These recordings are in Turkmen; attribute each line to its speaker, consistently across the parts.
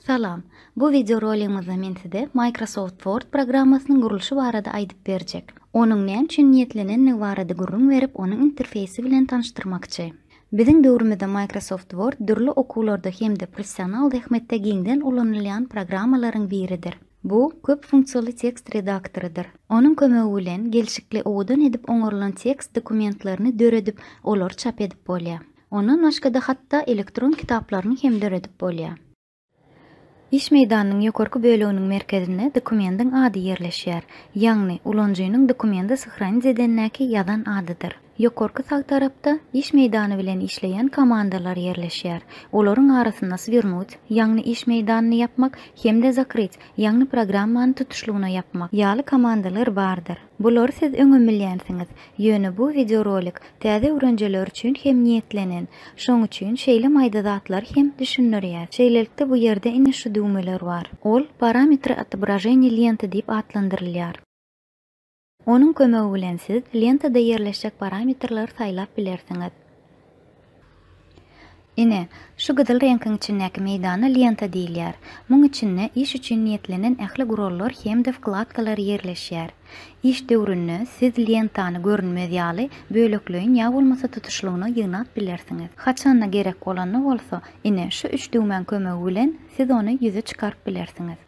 Speaker 1: Salam. Bu wideo roligimizde men size Microsoft Word programmasynyň gurluşy barada aýdyp berjek. Onuň näme üçin niýetlenendigi barada gürrüň berip, onuň interfeýsi bilen tanyşdyrmakçy. Biziň döwrümizde Microsoft Word dürli okuwlarda hem-de professional zähmetde giňden ulanylýan programmalaryň biridir. Bu köp funksiýaly tekst redaktorydyr. Onuň kömegi bilen gelşikli owadan edip oňarylan tekst dokumentlerini döredip, olary çap edip bolýar. Ondan başga-da hatda elektron kitaplaryny hem döredip bolýar. Iş meýdanynyň ýokarky böleginiň merkezinde dokumendiň ady ýerleşýär, ýagny ulanyjynyň dokumenti syhranit edendäki ýazan adydyr. Ýokarky sag tarapda iş meýdany bilen işleýän komandalar ýerleşýär. Olaryň arasynda Swirnut, ýagny iş meýdanyny ýapmak, hem-de Zakryt, ýagny programmany tutuşlygyna ýapmak, ýaly komandalar bardyr. Bulary siz öňem bilýänsiňiz, ýöne bu wideorolik täze öwrenjeler üçin hem niýetlenen, şoň üçin şeýle maýda zatlary hem düşündirýäs. Şeýlelikde bu ýerde ine şu düwmeler bar. Ol Parametry otobraženýa lenty diýip atlandyrylýar. Onuň kömegi bilen siz lentada ýerleşjek parametrleri saýlap bilersiňiz. Ine, şu gyzyl reňkiň içindäki meýdana lenta diýilýär. Muň içinde iş üçin niýetlenen ähli gurallar hem-de wkladkalar ýerleşýär. Iş döwründe siz lentany görünmez ýaly, bölekleýin ýa bolmasa tutuşlygyna ýygnap bilersiňiz. Haçanda gerek bolanda bolsa, ine, şu üç düwmäň kömegi bilen siz ony ýüze çykaryp bilersiňiz.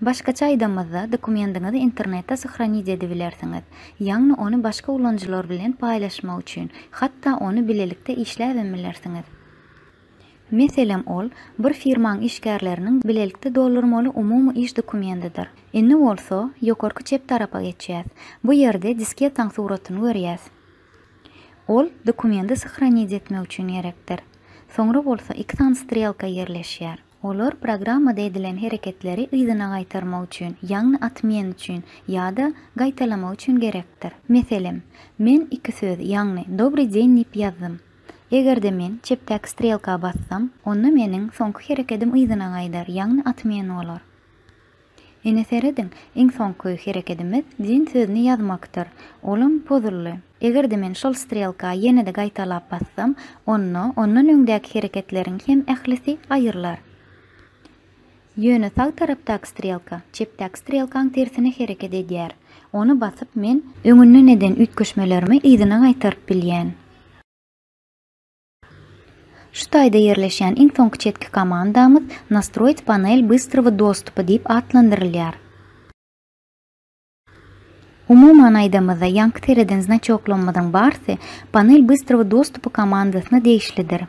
Speaker 1: Başgaça aýdamyzda, dokumendiňizi internetde sahranit edibilersiňiz, ýagny ony başga ulanyjylar bilen paýlaşmak üçin, hatda ony bilelikde işläbem bilersiňiz. Meselem, ol, bir firmaň işgärleriniň bilelikde doldurmaly umumy iş dokumendidir. Indi bolsa, ýokarky çep tarapa geçýäs. Bu ýerde disketaň suratyny görýäs. Ol, dokumendi sahranit etmek üçin gerekdir. Soňra bolsa iki sany strelka ýerleşýär. Olar programmada edilen hereketleri yzyna gaýtarmak üçin, ýagny atmýen üçin, ýa-da gaýtalamak üçin gerekdir. Meselem, men iki söz, ýagny Dobry deň diýip ýazdym. Eger-de men çepdäki strelka bassam, onda meniň soňky herekedim yzyna gaýdar, ýagny atmýen bolar. Ine serediň, iň soňky herekedimiz Jin sözüni ýazmakdyr. Olam pozuldy. Eger-de men şol strelka ýene-de gaýtalap bassam, onda ondan öňdäki hereketleriň hem ählisi aýrylar. Ýöne sag tarapdaky strelka çepdäki strelkaň tersine hereket edýär. Ony basyp men. Öňünden eden üýtgeşmelerimi yzyna gaýtaryp bilýän. Şu taýda ýerleşýän iň soňky çetki komandamyz Nastroit panel bystrowy dostupa diýip atlandyrylýar. Umuman aýdamyzda, ýaňky sereden znaçoklarymyzyň barsy panel bystrowy dostupy komandasyna degişlidir.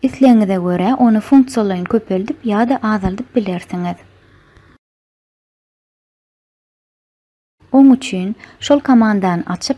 Speaker 1: Islegiňize görä ony funksiýalaýyn köpeldip ýa-da azaldyp bilersiňiz. Oň üçin, şol komandany açyp,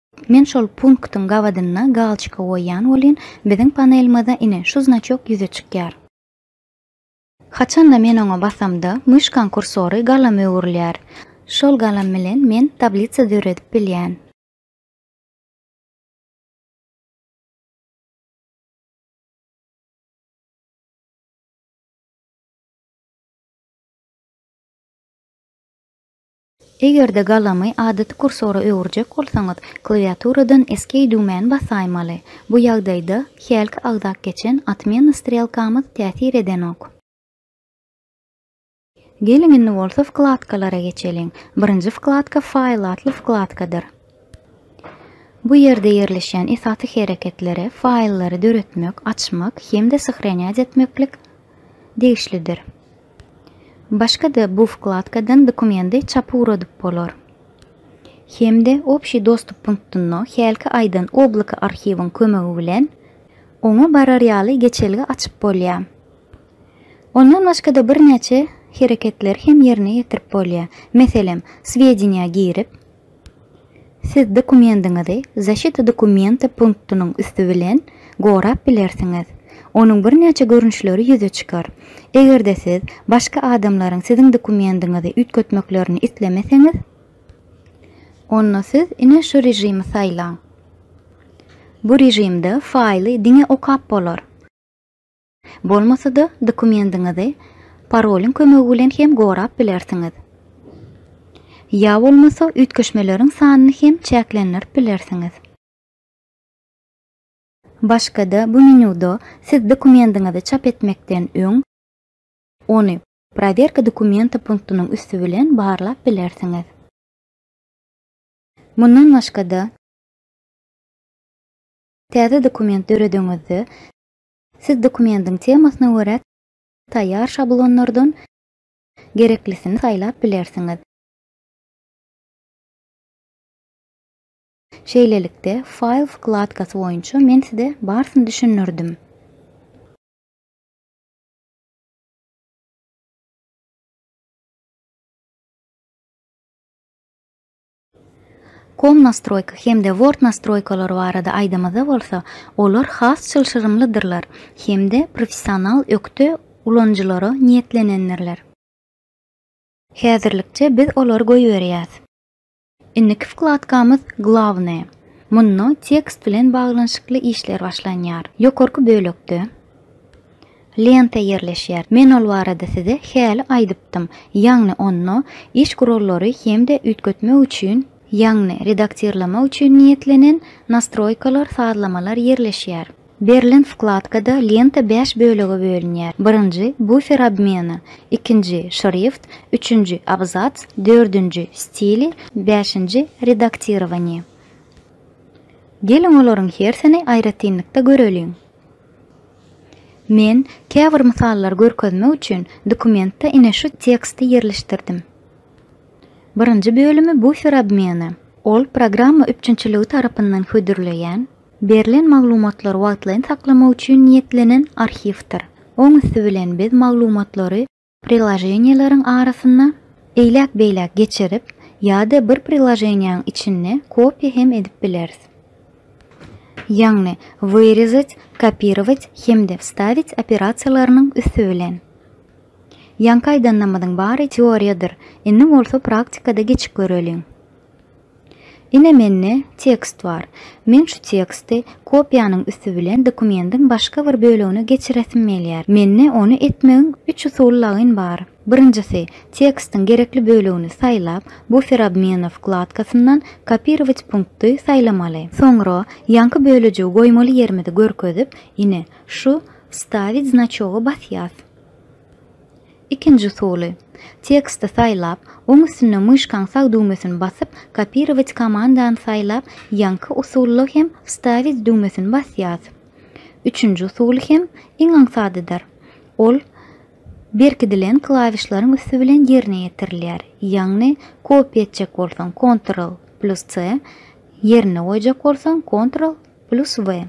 Speaker 1: Men şol punktyň gabadyna galçka goýýan welin, biziň panelmyzda ine şu znaçok ýüze çykýar. Haçanda men oňa basamda, myşkaň kursory galama öwrülýär. Şol galam bilen men tablitsa döredip bilýän. Eger-de galamy adaty kursora öwürjek bolsaňyz, klawiaturadan Escape düwmäni basaýmaly. Bu ýagdaýda hälki agzap geçen Otmena strelkamyz täsir edenok. Geliň indi bolsa wkladkalara geçeliň. Birinji wkladka File atly wkladkadyr. Bu ýerde ýerleşýän esasy hereketlere faýllary döretmek, açmak hem-de syhrenýat etmeklik degişlidir. Başga-da bu wkladkadan dokumendi çapy guradyp bolar. Hem-de Obşiý dostup punktynda hälki aýdan obloka arhiwiň kömegi bilen oňa barar ýaly geçelge açyp bolýar. Ondan başga-da birnäçe hereketleri hem ýerine ýetirip bolýar. Meselem, swedeniýa girip, Siz dokumendiňizi Zaşita dokumenta punktynyň üsti bilen gorap bilersiňiz. Onuň birnäçe görnüşleri ýüze çykar. Eger-de siz başga adamlaryň siziň dokumendiňizi üýtgetmeklerini islemeseňiz, onda siz ine şu režimi saýlaň. Bu režimde faýly diňe okap bolar. Bolmasa-da, dokumendiňizi parolyň kömegi bilen hem gorap bilersiňiz. Ýa bolmasa üýtgeşmeleriň sanyny hem çäklendirip bilersiňiz. Başga-da bu menýuda siz dokumendiňizi çap etmekden öň, ony Prowerka dokumenta punktynyň üsti bilen barlap bilersiňiz. Mundan başga-da, täze dokument döredeňizde, Siz dokumentiň temasyna görä taýýar şablonlardan gereklisini saýlap bilersiňiz. Şeýlelikde, File wkladkasy boýunça men size barsyny düşündirdim. Komnastroýka hem-de Word nastroýkalary barada aýdamyzda bolsa, olar has çylşyrymlydyrlar hem-de professional ökde ulanyjylara niýetlenendirler. Häzirlikçe biz olary goýberýäs. Indiki wkladkamyz Glawnaýe. Munda tekst bilen baglanyşykly işler başlanýar. Ýokarky bölekde. Lenta ýerleşýär. Men ol barada size häli aýdypdym. Ýagny onda iş gurallary hem-de üýtgetmek üçin, ýagny redaktirlemek üçin niýetlenen Nastroýkalar, sazlamalar ýerleşýär. Berlen wkladkada lenta bäş bölege bölünýär, birinji, bufer obmena, ikinji, şrift, üçünji, abzats, dördünji, stili, bäşinji, redaktirowaniýe. Geliň olaryň hersini aýratynlykda göreliň. Men käbir mysallary görkezmek üçin dokumentde ine şu teksti ýerleşdirdim. Birinji bölümi bufer obmeny. Ol programma üpjünçiligi tarapyndan hödürleýän, berlen maglumatlary wagtlaýyn saklamak üçin niýetlenen arhiwdir. Oň üsti bilen biz maglumatlary Priloženiýeleriň arasynda eýläk-beýläk geçirip ýa-da bir priloženiýäň içinde kopiýa hem edip bileris. Ýagny wyrezat, kopirować hem-de wstawit operasiýalarynyň üsti bilen. Ýaňky aýdanlarymyzyň bary teoriýadyr, indi bolsa praktikada geçip göreliň. Ine mende tekst bar. Men şu teksti kopiýanyň üsti bilen dokumendiň başga bir bölegine geçiresim gelýär. Mende ony etmegiň üç usul lagyn bar. Birinjisi, tekstiň gerekli bölegini saýlap, Bufer obmena wkladkasyndan Kopirować punkty saýlamaly. Soňra ýaňky bölejigi goýmaly ýerimizi görkezip, ine, şu Wstawić znaçoga basýas. Ikinji usuly. Teksti saýlap, oň üstünde myşkaň sag düwmesini basyp, kopirować komandany saýlap, ýaňky usulda hem wstawić düwmesini basýas. Üçünji usuly hem iň aňsadydyr. Ol berkidilen klawişleriň üsti bilen ýerine ýetirilýär. Ýagny kopiýa etjek bolsaň, kontrol plus C, ýerine goýjak bolsaň, kontrol, Plus we.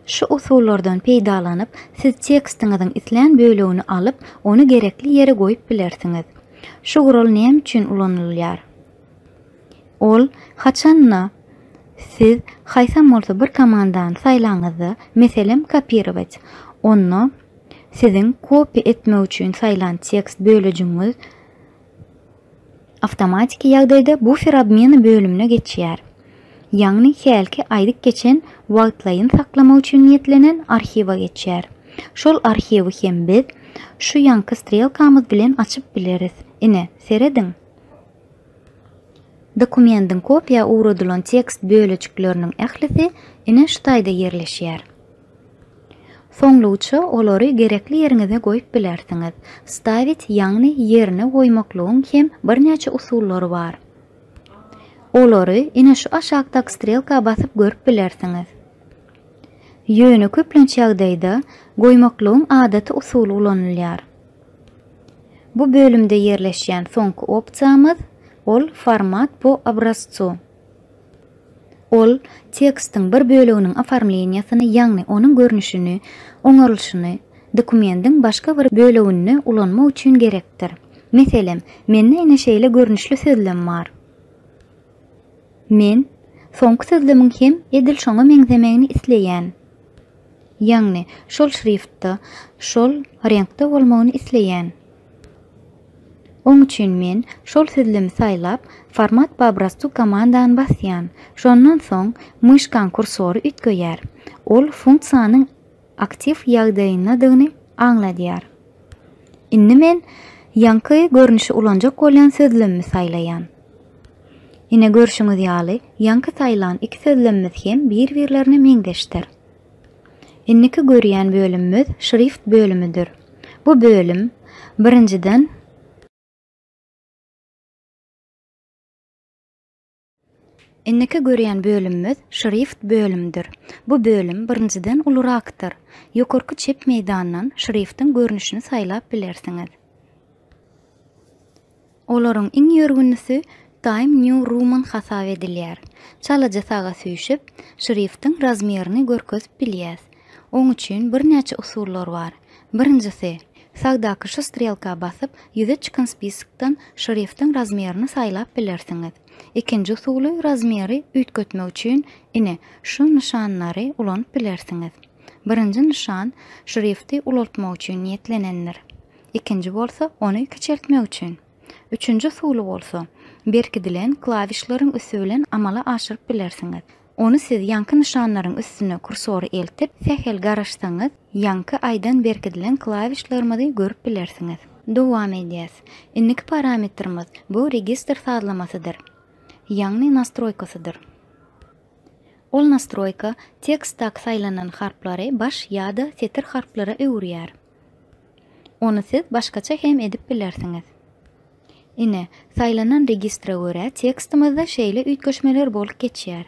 Speaker 1: Şu usullardan peýdalanyp, siz tekstiňiziň islän bölegini alyp, ony gerekli ýere goýup bilersiňiz. Şu gural näme üçin ulanylýar? Ol, haçan-da, siz haýsam bolsa bir komandany saýlaňyzda, meselem, kopirowat, onda siziň kopýa etmek üçin saýlan tekst bölejigiňiz, Awtomatiki ýagdaýda bufer obmeny bölümine geçýär. Ýagny hälki aýdyp geçen wagtlaýyn saklamak üçin niýetlenen arhiwa geçýär. Şol arhiwi hem biz şu ýanky strelkamyz bilen açyp bileris. Ine, serediň. Dokumendiň kopiýa ugradylan tekst bölejikleriniň ählisi ine şu taýda ýerleşýär. Soňluguça olary gerekli ýeriňize goýup bilersiňiz. Stawit ýagny ýerine goýmaklygyň hem birnäçe usullary bar. Olary ine şu aşakdaky strelka basyp görüp bilersiňiz. Ýöne köplenç ýagdaýda goýmaklygyň adaty usuly ulanylýar. Bu bölümde ýerleşýän soňky opsiýamyz, ol Format po obrazcu. Ol tekstiň bir böleginiň oformleniýasyny, ýagny onuň görnüşini, oňarylyşyny, dokumendiň başga bir böleginde ulanmak üçin gerekdir. Meselem, mende ine şeýle görnüşli sözlem bar. Men soňky sözlemiň hem edil şoňa meňzemegini isleýän. Ýagny, şol şriftda, şol reňkde bolmagyny isleýän. Oň üçin men şol sözlemi saýlap, Format po obrazcu komandany basýan. Şondan soň myşkaň kursory üýtgeýär. Ol funksiýanyň aktiw ýagdaýyndadygyny aňladýar. Indi men ýaňky görnüşi ulanjak bolýan sözlemimi saýlaýan. Ine görşüňiz ýaly, ýaňky saýlan iki sözlemimiz hem bir-birlerine meňzeşdir. Indiki görýän bölümimiz şrift bölümidir. Bu bölüm, birinjiden, Indiki görýän bölümimiz şrift bölümidir. Bu bölüm, birinjiden, ulurakdyr. Ýokarky çep meýdandan şriftiň görnüşini saýlap bilersiňiz. Olaryň iň ýörgünlisi Time New Roman hasap edilýär. Çalajy saga süýşüp, şriftiň razmerini görkezip bilýäs. Oň üçin birnäçe usullar bar. Birinjisi, sagdaky şu strelka basyp, ýüze çykan spiskdan şriftiň razmerini saýlap bilersiňiz. Ikinji usuly razmeri üýtgetmek üçin ine, şu nyşanlary ulanyp bilersiňiz. Birinji nyşan şrifti ulaltmak üçin niýetlenendir. ikinji bolsa ony kiçeltmek üçin, üçünji usuly bolsa berkidilen klawişleriň üsti bilen amala aşyryp bilersiňiz. Ony siz ýaňky nyşanlaryň üstüne kursory eltip, sähel garaşsaňyz, ýaňky aýdan berkidilen klawişlerimizi görüp bilersiňiz. Dowam edýäs. Indiki parametrimiz bu registr sazlamasydyr, ýagny nastroýkasydyr. Ol nastroýka tekstdaky saýlanan harplary baş ýa-da setir harplara öwürýär. Ony siz başgaça hem edip bilersiňiz. Ine, saýlanan registra görä tekstimizde şeýle üýtgeşmeler bolup geçýär.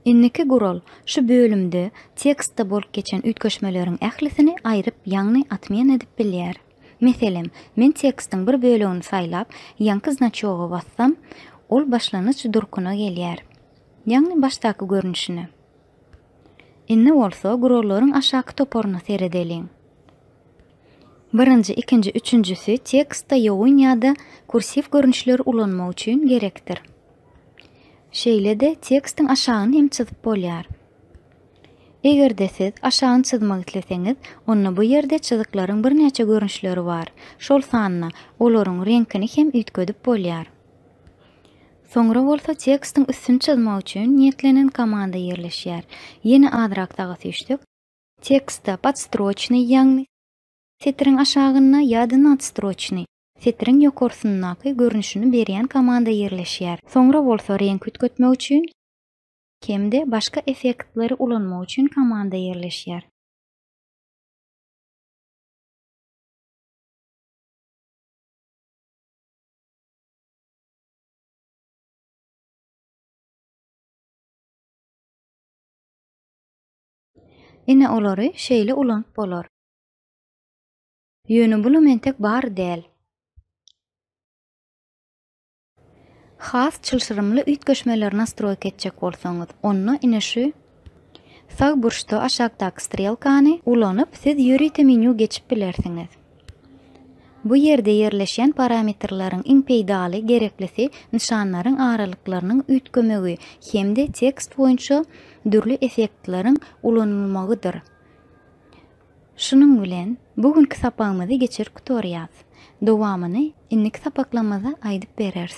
Speaker 1: Indiki gural, şu bölümde tekstde bolup geçen üýtgeşmeleriň ählisini aýryp ýagny atmen edip bilýär. Meselem, men tekstiň bir bölegini saýlap, ýaňky znaçoga bassam, ol başlanyç durkuna gelýär. Ýagny başdaky görnüşine. Indi bolsa gurallaryň aşaky toparyna seredeliň. Birinji, ikinji, üçünjisi tekstde ýogyn ýa-da kursiw görnüşleri ulanmak üçin gerekdir. Şeýle-de tekstiň aşagyny hem çyzyp bolýar. Eger-de siz aşagyny çyzmak isleseňiz, onda bu ýerde çyzyklaryň birnäçe görnüşleri bar, şol sanda olaryň reňkini hem üýtgedip bolýar. Soňra bolsa tekstiň üstüni çyzmak üçin niýetlenen komanda ýerleşýär. Ýene azrak saga süýşsek. Tekstde podstroçnyý ýagny setiriň aşagynda ýa-da nadstroçnyý, setiriň ýokarsyndaky görnüşini berýän komanda ýerleşýär. Soňra bolsa reňk üýtgetmek üçin hem-de başga effektleri ulanmak üçin komanda ýerleşýär. Ine olary şeýle ulanyp bolar. Ýöne bulam entek bar däl. Has çylşyrymly üýtgeşmeleri nastroýka etjek bolsaňyz, onda ine şu. Sag burçda aşakdaky strelkany ulanyp siz ýörite menýu geçip bilersiňiz. Bu ýerde ýerleşýän parametrleriň iň peýdaly, gereklisi nyşanlaryň aralyklarynyň üýtgemegi hem-de tekst boýunça dürli effektleriň ulanylmagydyr. Şunuň bilen bu günki sapagymyzy geçirip gutarýas. Dowamyny indiki sapaklamyzda aýdyp bereris.